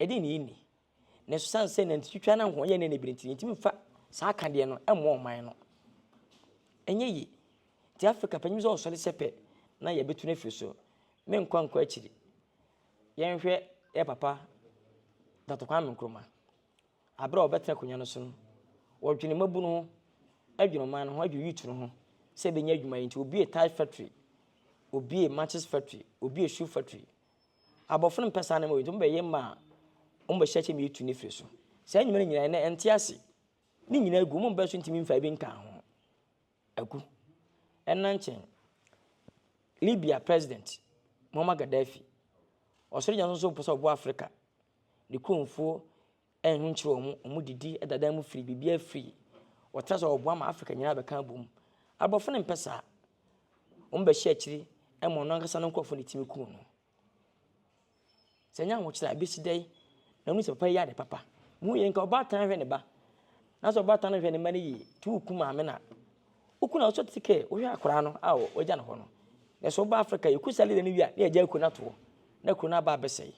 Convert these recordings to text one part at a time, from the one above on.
Ɛdeɛn na yɛnni? Nanso sane sɛ nantitwitwa no ho yɛ nnɛ na ɛbiri nti, yɛntumi mfa saa akadeɛ no mmɔ ɔman no. Ɛnyɛ yie. Nti Afrika panyim sɛ ɔsɔre sɛ pɛ na yɛbɛtu no afiri so. Menkɔ ankɔ akyiri. Yɛnhwɛ yɛ papa Dɔkta Kwame Nkrumah. Aberɛ a ɔbɛtena akonnwa no so no, wɔdwene mmabunu ho, adwene ɔman no ho, adwene youth no ho sɛ ɛbɛnya adwuma yɛ nti obiee tie factory, obiee matches factory, obiee shoe factory. Abɔfo no mmpɛ saa ndzɛmba wei, ntsi wɔbɛyɛ ma a, wɔbɛhyɛ kyɛ ma eetu n'efir so. Saa ndwuma no nyina, nna nntse ase. Ne nyina egu, hom mba so nntumi mmfa bi nnkaa ho. Agu. Nna nkyen, Libya President, Muammar Gaddafi, Ɔsor Egya no so ɔpɛ sɛ ɔboa Africa, ne kuromfo ɛyɛ no nkyerɛ wɔn, wɔn didi da dan mu firi, biribiara firi. Wɔtra sɛ wɔboa ma Africa nyinaa bɛka abom. Aborɔfo no mpɛ saa. Wɔn bɛhyɛ akyiri ma ɔno ankasa no nkurɔfo ne tumi kuu no. Sɛ nyɛ ahokyerɛ a ebesi dɛ na wɔn sɛ papa yɛ ade papa. Mu yɛ nka ɔbaatan ahwɛ ne ba. Na sɛ ɔbaatan no hwɛ ne mma no yie, tu wo ku maame na wo ku na ɔsɔ ti kɛ wohwɛ akwaraa no a wɔagya no hɔ no. Na sɛ ɔba Africa yɛ ku saa leda no wie a na yɛgya kuro no atoɔ na kuro no aba abɛsɛe.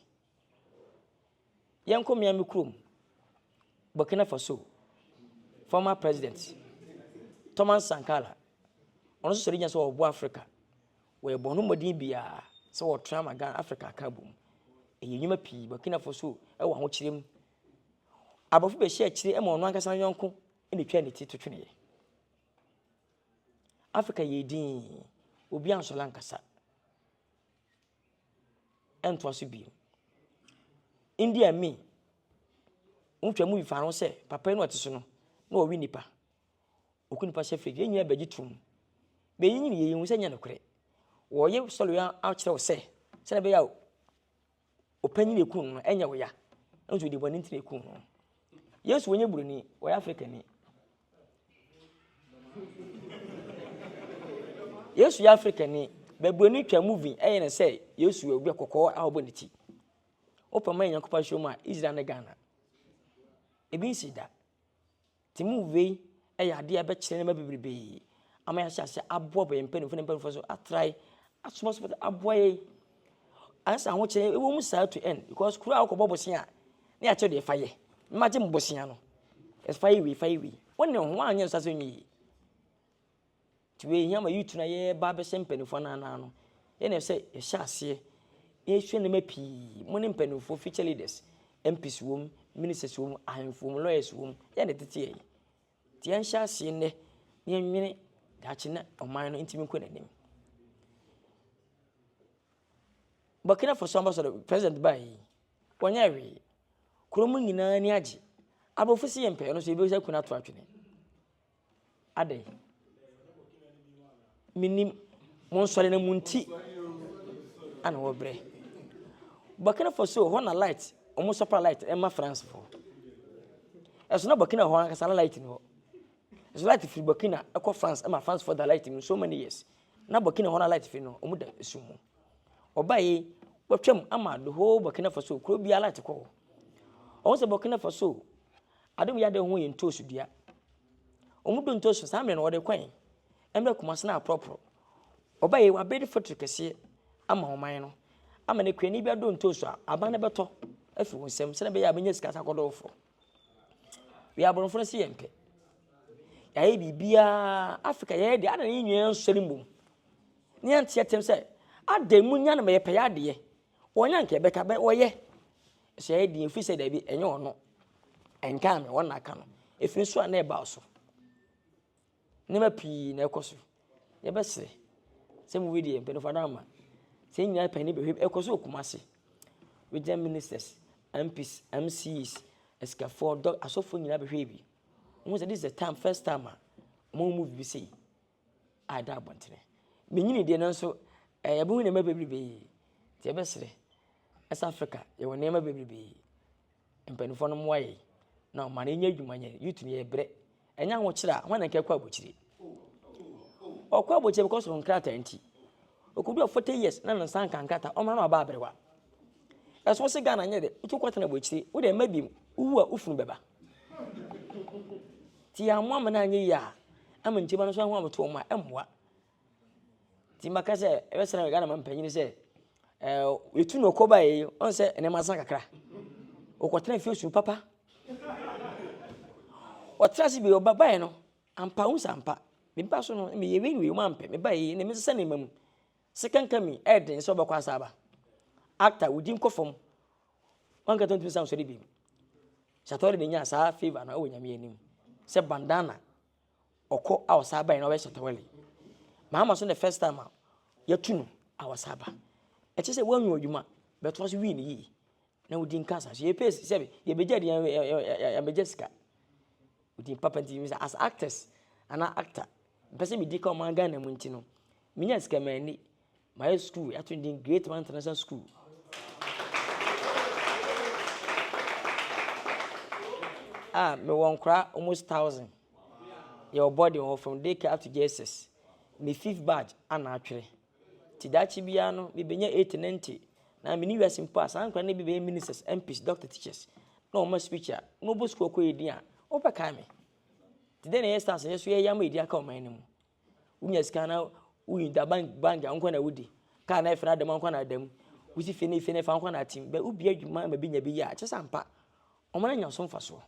Yɛnkɔ mmea me kurom, Burkina Faso former president Thomas Sankara, ɔno nso sɔre gyina sɛ ɔboa Africa. Wɔyɛ bɔn ho mmɔden biara sɛ wɔtra ma Ghana Africa aka abom. Ɛyɛ nnwuma pii, Burkina Faso wɔ ahokyerɛ mu. Aborɔfo bɛhyɛ akyire ma ɔno ankasa yɔnko na ɛtwa ne ti to tweneɛ. Africa yɛ din, obi ansɔre ankasa. ɛntoa so bio. India Amin, wotwa movie fa ho sɛ papa yi na ɔte so no na ɔwe nipa. Ɔku nipa hyɛ fridge. Yɛn nyinaa bɛgye tom. Bɛyi nyini yɛyi hu sɛ nyɛ nokorɛ. Wɔyɛ sɔre yi akyerɛ wo sɛ sɛdeɛ ɛbɛyɛ a ɔpanyin eku no ɛnyɛ wo ya. Nso ɔde bɔne nti na eku no. Yesu wɔnyɛ buroni, wɔyɛ Afrikani. yesu yɛ afrikani babuani twa movie ɛyɛ ne sɛ yesu yɛ obi kɔkɔɔ a ɔbɔ ne ti wopɛ ma yɛ nyankopɔn ahyɛ mu a israel ne ghana ebi nsi da ti movie yi ɛyɛ adeɛ ɛbɛkyerɛ nneɛma bebrebe ama yɛahyɛ ase aboa bɛyɛ mpanyinfoɔ ne mpanyinfoɔ so atrae asomasoma aboa yɛ Ansa ahokyerɛ ɛwɔ mu saa to end because kuro a wokɔbɔ bosea a na yɛakyerɛ deɛ ɛfa yɛ na magye mo bosea no ɛfa yɛ wei fa yɛ wei wone ho anyɛ nsa sɛ nyɛ yie nti wei hia ma yutu na yɛba bɛhyɛ mpanimfoɔ no anaa no ɛna sɛ yɛhyɛ aseɛ yɛsua nneɛma pii mo ne mpanimfoɔ future leaders MPs wom ministers wom ahemfo wom lawyers wom yɛn de tete yɛ Nti yɛnhyɛ aseɛ nnɛ na yɛnwene daakye na ɔman no ntumi nkɔ n'anim. Burkina Faso ambassador president baa yi wɔnyɛ hwee kurom nyinaa ni agye aborɔfo si yɛ mpɛɛ no so yɛbɛsɛ kuna ato atwene adɛn Menim, monsɔre na monti ana wɔbrɛ. Burkina Faso hɔ na light, wɔn supply light ɛma France fo. Ɛso na Burkina hɔ ankasa na light ni hɔ. Ɛso light firi Burkina ɛkɔ France ɛma France fo da light mu so many years. Na Burkina hɔ na light firi no, wɔn da esu mu. Ɔbaa yi, wɔtwam ama the whole Burkina Faso, kuro biara light kɔ hɔ. Wɔn sɛ Burkina Faso, adom yɛ ade ho yɛ ntoosu dua. Wɔn do ntoosu saa mmerɛ no wɔde kwan. Mmerɛ Kumase no aporɔporɔ. Ɔbɛ yi wabɛ de fetri kɛseɛ ama ɔman no. Ama ne kurani bi adɔ ntoosu a, aban no bɛtɔ afiri wɔn nsam sɛdeɛ ɛbɛyɛ a bɛnya sika sa kɔdɔɔfoɔ. Wei aborɔfo no se yɛn pɛ. Yɛayɛ biribiara, Africa yɛyɛ deɛ, adɛn na yɛn nyinaa nsɔre mbom? Ne yɛn teɛ tɛm sɛ, adɛn mu nya no ma yɛpɛ yɛ adeɛ? Wɔnyɛ anka ɛbɛka bɛ, wɔyɛ. Sɛ yɛyɛ deɛ, ɛfiri sɛ daabi, ɛnyɛ ɔno. Ɛnkaa me, wɔn na aka no. Ɛfiri nso a na ɛba so. Nneɛma pii na ɛkɔ so. Yɛbɛsrɛ sɛ mo wei deɛ mpanyinfoɔ ada ama. Sɛ yɛn nyinaa pɛn ne bɛhwɛ ɛkɔ so wɔ Kumasi. Regional ministers, MPs, MCs, asikafoɔ, dɔ asɔfoɔ nyinaa bɛhwɛ bi. Wɔn sɛ this is the time first time a wɔn move bi sei a ɛda abɔntene. Menyini deɛ nanso ɛɛ yɛbɛhu nneɛma bebrebe. Nti yɛbɛsrɛ ɛsɛ Africa yɛwɔ nneɛma bebrebe. Mpanimfoɔ no mmoa yɛn na ɔma yɛnyɛ adwuma nyɛ youth no yɛbrɛ ɛnyɛ ahokyerɛ a hwan na nkɛkɔ abokyire ɔkɔ abokyire because of nkrataa nti ɔkɔdua 40 years na ne nsa nka nkrataa ɔma no aba aberewa ɛso se Ghana nyɛ dɛ wotu kɔtena abokyire wode ɛma bi wowu a wofunu bɛba nti yɛammoa ma no anyɛ yie a ama nkyima no so ho abotoɔ mu a ɛmmoa Nti maka sɛ ɛbɛsɛ na Ghana ma mpanyin sɛ ɛɛ etu na ɔkɔ baeɛ yi ɔn sɛ nneɛma asan kakra ɔkɔtena fie su papa ɔtena ase bi ɔba baeɛ no ampa ho sɛ ampa meba so no meyɛ wei wei ɔma mpɛ meba yi na mesesa nneɛma mu sika nka mi ɛyɛ den sɛ ɔbɛkɔ asa aba actor wodi nkɔ fam wankata ntumi san sɔre bi Sartori na nya saa favour no ɛwɔ nyame anim sɛ bandana. Ɔkɔ a ɔsan bae na ɔyɛ shatawale. Mahama so na first time a yɛtu no a ɔsan ba. Ɛkyɛ sɛ wɔanwia adwuma but wɔn nso wie no yie na wɔdi nka asan so. Yɛpɛ sɛ yɛbɛgya deɛ yɛbɛgya sika. Nti papa nti sɛ as actors anaa actor mpɛ sɛ medi ka ɔman Ghana mu nti no menya sika manni. Mayɛ sukuu, yɛato ne din Great Man International School. a mewɔ nkora almost thousand. Yɛwɔ body wɔ hɔ from daycare up to JSS. Me fifth batch ana atwere. Ti daakye biara no, mebɛnya 80, 90. Na mene wiase mpo a, saa nkora no bi bɛyɛ ministers, MPs, doctor, teachers. Na wɔma speech a, na wɔbɔ sukuu ɔkɔ yɛ din a, wɔbɛkae me. Ti dɛn na yɛyɛ stars yɛ so yɛyɛ ama yɛ din aka ɔman no mu. Wonya sika na woyi da bank bank anko na wodi. Kaa na ɛfɛ na adam anko na adam. Wosi fie na fie na ɛfa anko na atim. Bɛ wobi adwuma ma bi nya bi yɛ a kyɛ sɛ ampa. Wɔn anya so mfasoɔ.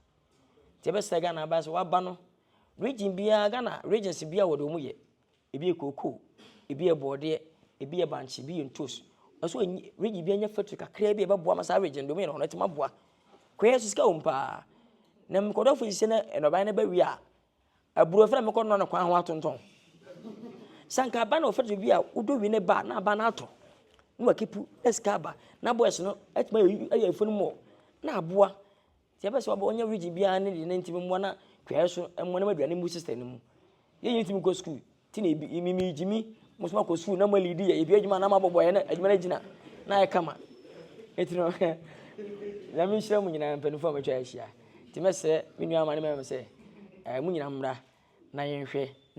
Nti ɛbɛsɛ Ghana aba sɛ waba no region biara Ghana regions biara wɔde wɔn yɛ. Ebi yɛ cocoa, ebi yɛ bɔɔdeɛ, ebi yɛ bankye, ebi yɛ ntos. Ɛso enyi region bi anya factory kakraa bi a ɛbɛboa ma saa region deɛ wɔn yɛ no wɔn atumi aboa. Kɔyɛ so sika wɔ mu paa. Na nkɔdɔfo sisi na nnɔbaeɛ no bɛwie a Aburow fɛrɛ mekɔ nora no kwan ho atontɔn. Sɛ anka aba na ɔfɛrɛ bi a wodɔ wi ne ba na aba na atɔ. Na wakipu na sika aba. Na boys no atuma ayɛ fun mmɔ na aboa. Ti ɛbɛ sɛ ɔbɔ ɔnyɛ region biara ne deɛ ne ntumi mmoa na twɛɛ so mmoa ne aduane mu sister no mu. Yɛn nyɛ ntumi nkɔ school. Ti na ebi imi mi gyimi mo soma kɔ sukuu na mo alidi yɛ ebi adwuma na mo abɔbɔ yɛ na adwuma no gyina na ayɛ kama eti no nyame nhyira mu nyinaa mpanyinfoɔ a matwa ahyia ti mɛsrɛ me nua ama ne mɛmɛ sɛ ɛɛ mo nyinaa mmra na yɛnhwɛ na